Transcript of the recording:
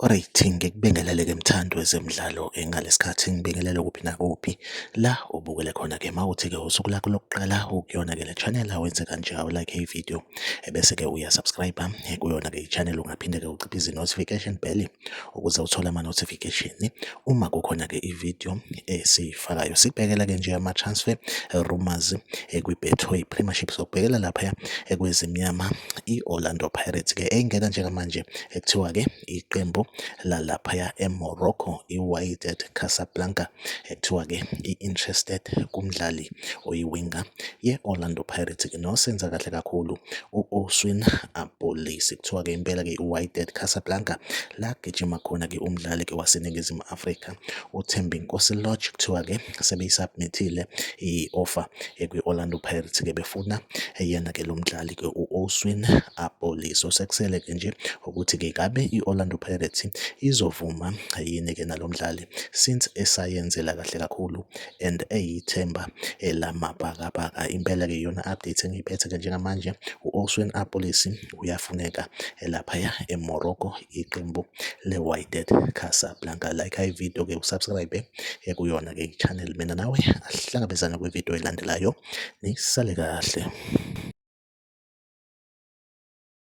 Alright, ngikubingelele ke mthandi wezemidlalo eh, ngalesikhathi ngibingelele kuphi nakuphi la ubukele khona ke mawuthi ke usuku lakho lokuqala ukuyona ke le channel awenze kanje awulike ivideo ebese ke uya subscribe eh, kuyona ke i-channel ungaphinde ke uciphe izi-notification bell ukuze uthole ama-notification uma kukhona ke i-video esiyifakayo sibhekela ke nje ama-transfer eh, rumors eh, kwi-betway premiership sokubhekela lapha ekwezimnyama i-orlando pirates ke engena njengamanje ekuthiwa ke iqembu lalaphaya emorocco i-wydad casablanca Kuthiwa-ke i-interested kumdlali oyiwinga ye-Orlando Pirates ke nosenza kahle kakhulu u-Oswin Abolisi. Kuthiwa-ke impela-ke i-Wydad Casablanca la gijima khona-ke umdlali-ke waseNingizimu Afrika uThembinkosi Lorch. Kuthiwa-ke sebeyisubmithile i-offer ekwi-Orlando Pirates-ke befuna yena-ke lo mdlali-ke u-Oswin Abolisi. Osekusele-ke nje ukuthi-ke ngabe i-Orlando Pirates izovuma yini-ke nalo mdlali since esayenzela kahle kakhulu and eyithemba lamabhakabhaka. Impela-ke iyona update engiyiphethe-ke njengamanje u-Oswin Apolisi uyafuneka laphaya eMorocco iqembu le-Wydad Casablanca. Like ivideo-ke usubscribe kuyona-ke i-channel mina nawe asihlangabezane kwivideo elandelayo nisale kahle.